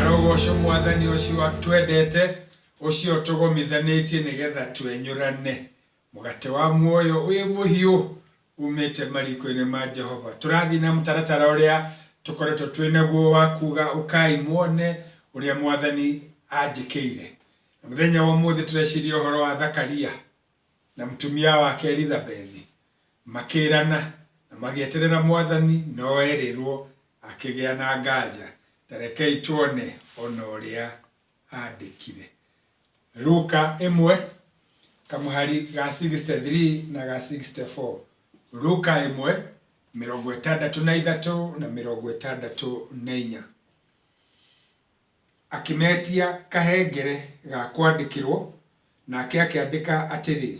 arogoco mwathani ũcio twendete ũcio tũgomithanĩtie nĩgetha twenyũrane Mũgate wa muoyo wĩ mũhiũ umĩte mariko-inĩ ma Jehova. Tũrathiĩ na mũtaratara ũrĩa tũkoretwo twĩ naguo wa kuga ũkai muone ũrĩa mwathani anjĩkĩire. Na mũthenya wa ũmũthĩ tũreciria ũhoro wa Thakaria na mũtumia wake Elizabethi makĩrana na magĩeterera mwathani no erĩrwo akĩgĩa na nganja. Ta rekei tuone ona ũrĩa aandĩkire. Luka ĩmwe, kamũhari ga 63 na ga 64. Luka ĩmwe, mĩrongo ĩtandatũ na ithatũ na mĩrongo ĩtandatũ na inya. Akĩmetia kahengere ga kwandĩkĩrwo, nake akĩandĩka atĩrĩ,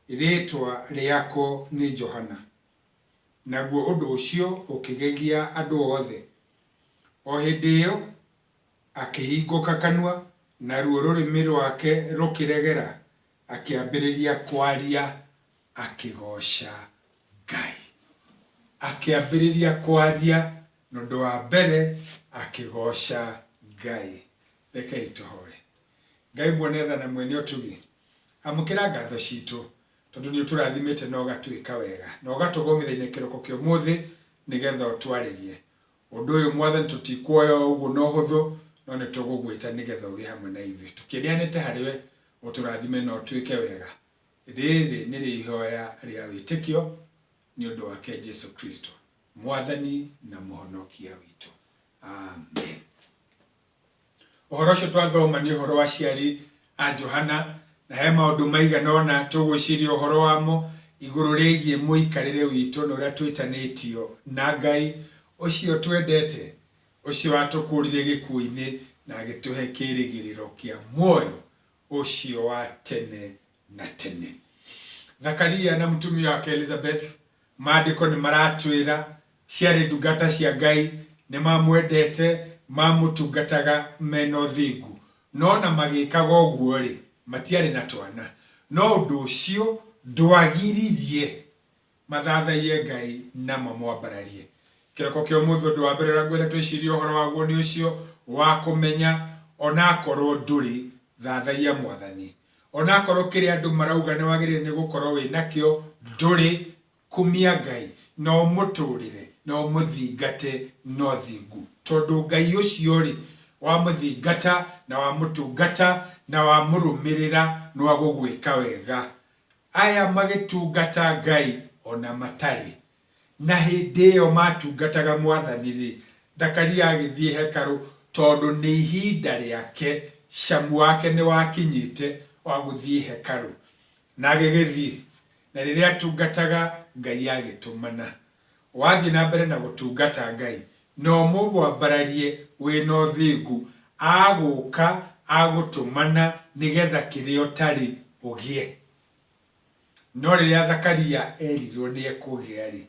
Rĩĩtwa rĩako nĩ Johana. Naguo ũndũ ũcio ũkĩgegia andũ othe. O hĩndĩ ĩyo Akĩhingũka kanua, naruo rũrĩmĩ rwake rũkĩregera, akĩambĩrĩria kwaria akĩgooca Ngai. Akĩambĩrĩria kwaria, na ũndũ wa mbere akĩgooca Ngai. Rekei tũhoe. Ngai mwene tha na mwene ũtugi, amũkĩra ngatho ciitũ, tondũ nĩ ũtũrathimĩte na ũgatwĩka wega, na ũgatũgũmĩra-inĩ kĩroko kĩa ũmũthĩ, nĩgetha ũtwarĩrie. Ũndũ ũyũ, Mwathani, tũtikwoya o ũguo na ũhũthũ, no nĩ tũgũgwĩta nĩ getha ũgĩe hamwe na ithuĩ. Tũkĩneanĩte harĩ we, ũtũrathime na ũtwĩke wega. Rĩrĩ nĩrĩo ihoya rĩa wĩtĩkio, nĩ ũndũ wake Jesu Kristo, Mwathani na Mũhonokia witũ. Amen. Ũhoro ũcio twathoma nĩ ũhoro wa aciari a Johana, na he maũndũ maigana ũna tũgwĩciria ũhoro wamo igũrũ rĩgiĩ mũikarĩre witũ na ũrĩa twĩtanĩtio na Ngai ũcio ũtwendete, ũcio watũkũũrire gĩkuũ-inĩ na agĩtũhe kĩĩrĩgĩrĩro kĩa muoyo ũcio wa tene na tene thakaria na mũtumia wake elizabeth maandĩko nĩ maratwĩra ciarĩ ndungata cia ngai nĩ mamwendete mamũtungataga mena ũthingu no na magĩkaga ũguo-rĩ matiarĩ na twana no ũndũ ũcio ndwagiririe Mathathaiye Ngai na mamwambararie. Kĩroko kĩa ũmũthĩ ũndũ wa mbere ũrĩa ngwenda twĩcirie ũhoro waguo nĩ ũcio wa kũmenya onakorwo ndũrĩ, thathaia Mwathani. Onakorwo kĩrĩa andũ marauga nĩ wagĩrĩire nĩ gũkorwo wĩ nakĩo ndũrĩ, kumia Ngai na ũmũtũrĩre na ũmũthingate na ũthingu. Tondũ Ngai ũcio-rĩ, wamũthingata na wamũtungata na wamũrũmĩrĩra nĩ wa gũgwĩka wega. Aya magĩtungata Ngai o na matarĩ. Na hĩndĩ ĩyo maatungataga Mwathani-rĩ, Zakaria agĩthiĩ hekarũ tondũ nĩ ihinda rĩake, camu wake nĩwakinyĩte wa gũthiĩ hekarũ. Na agĩgĩthiĩ, na rĩrĩa aatungataga Ngai agĩtũmana. Wathiĩ na mbere na gũtungata Ngai, na ũmũmwambararie wĩ na ũthingu, agũũka agũtũmana nĩ getha kĩrĩa ũtarĩ, ũgĩe. No rĩrĩa Zakaria erirwo nĩ ekũgĩa-rĩ,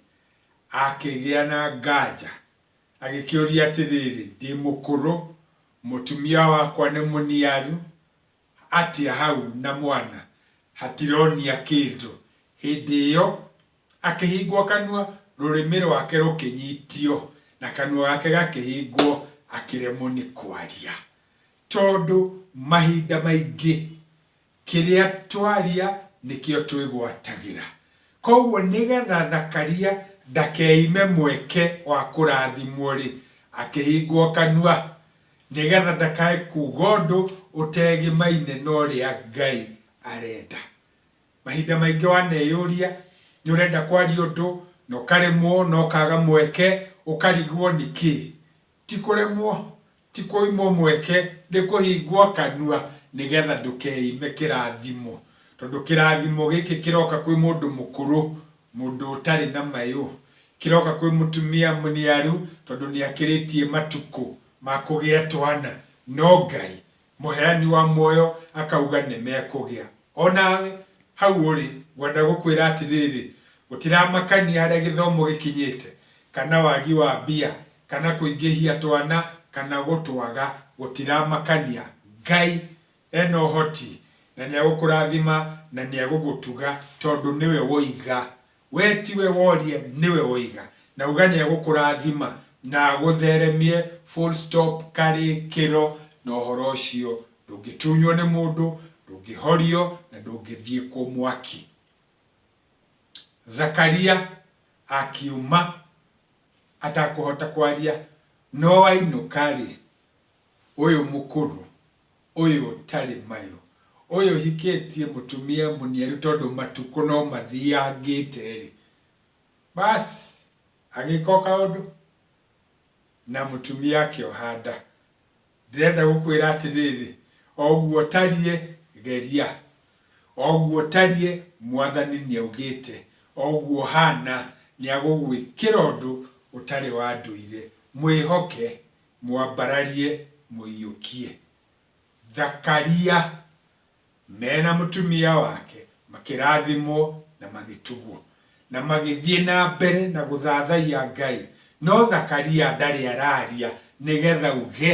akĩgĩa na nganja, agĩkĩũria atĩrĩrĩ, Ndĩ mũkũrũ, mũtumia wakwa nĩ mũniaru, atia hau na mwana hatironia kĩndũ. Hĩndĩ ĩyo akĩhingwo kanua rũrĩmĩ rwake rũkĩnyitio na kanua gake gakĩhingwo akĩremwo nĩ kwaria. Tondũ mahinda maingĩ kĩrĩa twaria nĩkĩo twĩgwatagĩra. Koguo nĩgetha Zakaria ndakeime mweke wa kũrathimwo-rĩ, akĩhingwo kanua Nĩgetha ndakae kuuga ũndũ ũtegimaine na ũrĩa Ngai arenda. Mahinda maingĩ waneyũria, nĩ ũrenda kwaria ũndũ na ũkaremwo na ũkaga mweke, ũkarigwo nĩ kĩ? Ti kũremwo, ti kũimwo mweke, nĩ kũhingwo kanua nĩgetha ndũkeime kĩrathimo. Tondũ kĩrathimo gĩkĩ kĩroka kwĩ mũndũ mũkũrũ. Mũndũ ũtarĩ na mayũ. Kĩroka kwĩ mũtumia mũniaru tondũ nĩakĩrĩtie matukũ ma kũgĩa twana no Ngai mũheani wa muoyo akauga nĩmekũgĩa. Onawe hau ũrĩ ngwenda gũkwĩra atĩrĩrĩ, gũtiramakania harĩa gĩthomo gĩkinyĩte kana wagi wa mbia kana kũingĩhia twana kana gũtwaga gũtiramakania Ngai E na ũhoti, na nĩegũkũrathima, na nĩegũgũtuga, tondũ nĩwe woiga. Wee tiwe woria, nĩwe woiga. Na uga nĩegũkũrathima, na agũtheremie, full stop, karĩkĩro, na ũhoro ũcio ndũngĩtunywo nĩ mũndũ, ndũngĩhorio, na ndũngĩthiĩkwo mwaki. Zakaria akiuma atakũhota kwaria, no ainũka-rĩ, ũyũ mũkũrũ ũyũ ũtarĩ mayũ, ũyũ ũhikĩtie mũtumia mũniaru tondũ matukũ no mathiangĩte-rĩ, baas agĩka o kaũndũ na mũtumia akĩoha nda. Ndĩrenda gũkwĩra atĩrĩrĩ, o ũguo ũtariĩ geria, o ũguo ũtariĩ Mwathani nĩaugĩte, o ũguo ũhana nĩagũgwĩkĩra ũndũ ũtarĩ wa ndũire. Mwĩhoke Mwambararie mũiyũkie. Thakaria. Me na mũtumia wake makĩrathimwo na magĩtugwo. Na magĩthiĩ na mbere na gũthathaiya Ngai. No Thakaria ndarĩ araria nĩgetha uge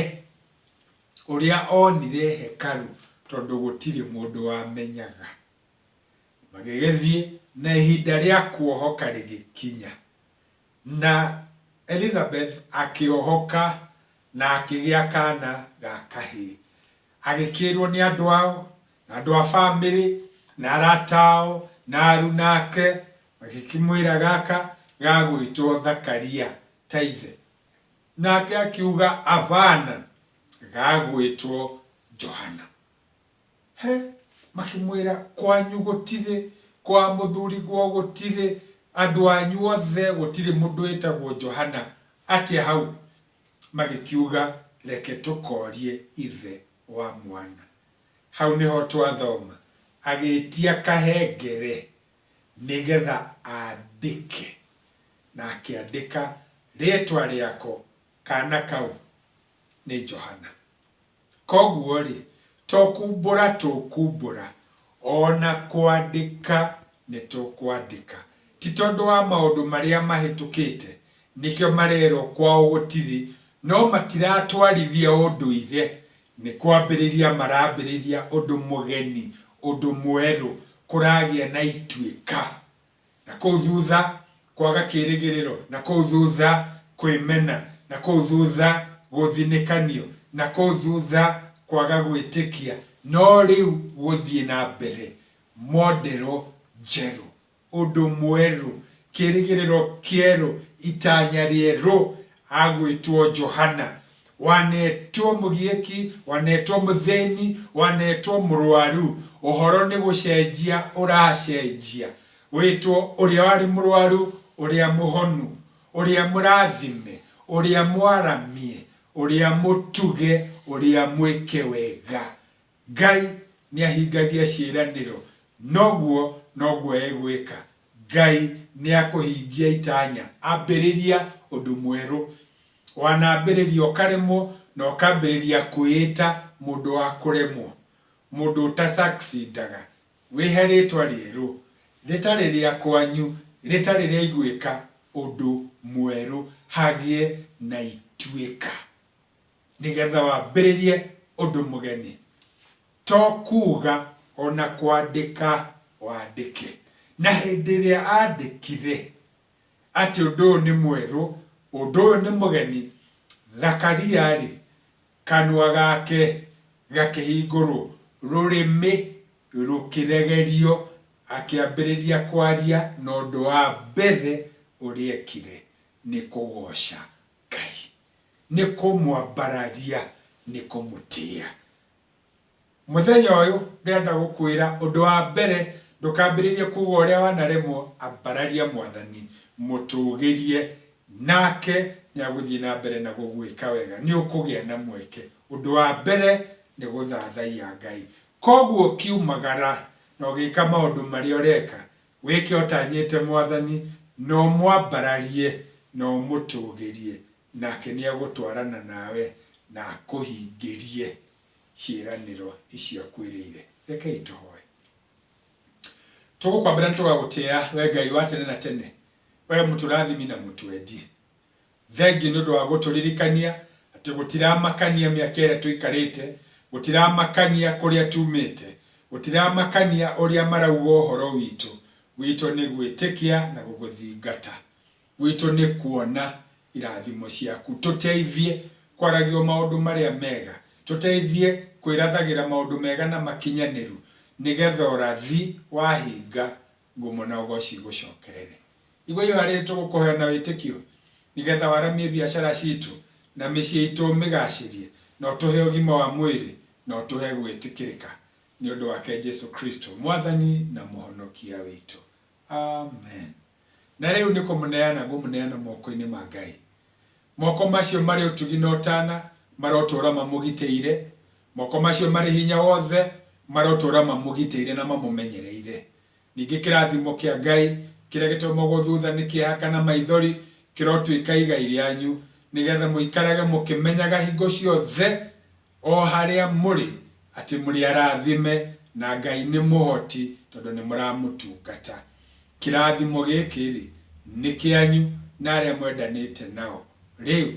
ũrĩa onire hekaru tondũ gũtirĩ mũndũ wamenyaga. Magĩgĩthiĩ na ihinda rĩa kuohoka rĩgĩkinya. Na Elizabeth akĩohoka na akĩgĩa kaana ga kahĩĩ. Agĩkĩĩrũo nĩ andũ ao, na andũ a famĩlĩ, na arata ao, na aruna ake, magĩkĩmwĩra, Gaka gagwĩtwo Zakaria, ta ithe. Nake akiuga, Abana, gagwĩtwo Johana. He! Makĩmwĩra, Kwanyu gũtirĩ, kwa mũthuriguo gũtirĩ, andũ anyu othe gũtirĩ mũndũ wĩtagwo Johana. Atĩa hau? Magĩkiuga, Reke tũkoorie ithe wa mwana. Hau nĩho twathoma, Agĩĩtia kahengere nĩ getha andĩke, na akĩandĩka rĩĩtwa rĩako, Kaana kau nĩ Johana. Kwoguo-rĩ, to kumbũra tũkumbũra, o na kwandĩka nĩtũkwandĩka. Ti tondũ wa maũndũ marĩa mahĩtũkĩte, nĩkĩo marerwo kwao gũtirĩ, no matiratwarithia ũndũire, nĩ kwambĩrĩria marambĩrĩria ũndũ mũgeni, ũndũ mwerũ, kũragĩa na ituĩka. Na kũu thutha, kwaga kĩĩrĩgĩrĩro, na kũu thutha, kwĩmena, na kũu thutha, gũthinĩkanio, na kũu thutha, kwaga gwĩtĩkia, no rĩu gũthiĩ na mbere, modero njerũ, ũndũ mwerũ, kĩĩrĩgĩrĩro kĩerũ, itanya rĩerũ, agwĩtwo Johana, Wanetwo mũgiĩki, wanetwo mũthĩni, wanetwo mũrwaru, ũhoro nĩ gũcenjia ũracenjia, wĩtwo ũrĩa warĩ mũrwaru, ũrĩa mũhonu, ũrĩa mũrathime, ũrĩa mwaramie, ũrĩa mũtuge, ũrĩa mwĩke wega. Ngai nĩahingagia ciĩranĩro, noguo noguo egwĩka. Ngai nĩakũhingia itanya, ambĩrĩria ũndũ mwerũ. Wanambĩrĩria ũkaremwo na ũkambĩrĩria kwĩĩta mũndũ wa kũremwo, mũndũ ũta succeedaga, wĩhe rĩtwa rĩerũ, rĩtarĩ rĩa kwanyu, rĩtarĩ rĩa igwĩka, ũndũ mwerũ, hagĩe na ituĩka. nĩgetha wambĩrĩrie ũndũ mũgeni. To kuuga o na kwandĩka wandĩke. Na hĩndĩ ĩrĩa andĩkire atĩ ũndũ ũyũ nĩ mwerũ, ũndũ ũyũ nĩ mũgeni, Zakaria-rĩ, kanua gake gakĩhingũrwo, rũrĩmĩ rũkĩregerio, akĩambĩrĩria kwaria, na ũndũ wa mbere ũrĩa ekire nĩ kũgooca Ngai. Nĩ kũmwambararia, nĩ kũmũtĩa. Mũthenya ũyũ ndĩrenda gũkwĩra ũndũ wa mbere ndũkambĩrĩrie kuga ũrĩa wanaremwo, ambararia Mwathani, mũtũgĩrie, nake nĩ agũthiĩ na mbere na gũgwĩka wega. Nĩ ũkũgĩa na mweke. Ũndũ wa mbere nĩ gũthathaiya Ngai. Koguo ũkiumagara na ũgĩka maũndũ marĩa ũreka, Wĩke ũtanyĩte Mwathani, na ũmwambararie, na ũmũtũũgĩrie, nake nĩegũtwarana nawe, na akũhingĩrie ciĩranĩro icio akwĩrĩire. Rekei tũhoe. Tũgũkwambĩra na tũgagũtĩa, Wee Ngai wa tene na tene, Wee mũtũrathimi na mũtwendi. Thengiũ nĩ ũndũ wa gũtũririkania atĩ gũtiramakania mĩaka ĩrĩa tũikarĩte, gũtiramakania kũrĩa tumĩte, gũtiramakania ũrĩa marauga ũhoro witũ. Gwitũ nĩ gwĩtĩkia na gũgũthingata. Gwitũ nĩ kuona irathimo ciaku. Tũteithie kwaragia o maũndũ marĩa mega. Tũteithie kwĩrathagĩra maũndũ mega na makinyanĩru nĩgetha ũrathi wahinga ngumo na ũgooci igũcookerere. Igua ihooya rĩrĩ tũgũkũhoya na wĩtĩkio, nĩgeetha waramie biacara ciitũ na mĩciĩ iitũ ũmĩgaacĩrie, na ũtũhe ũgima wa mwĩrĩ, na ũtũhe gwĩtĩkĩrĩka. Nĩ ũndũ wake Jesũ Kristũ, Mwathani na Mũhonokia witũ. Amen. Na rĩu nĩ kũmũneana ngũmũneana mookoinĩ ma Ngai. Mooko macio marĩ ũtugi na ũtaana marotũũra mamũgitĩire, Moko macio marĩ hinya wothe marotũũra mamũgitĩire na mamũmenyereire. Ningĩ kĩrathimo kĩa Ngai kĩrĩa gĩtomogwo thutha nĩ kĩeha kana maithori kĩrotuĩka igai rĩanyu, nĩgetha mũikarage mũkĩmenyaga hingo ciothe o harĩa mũrĩ atĩ mũrĩ arathime na Ngai nĩ mũhoti tondũ nĩ mũramũtungata. Kĩrathimo gĩkĩ-rĩ, nĩ kĩanyu na arĩa mwendanĩte nao, rĩu,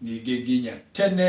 ningĩ nginya tene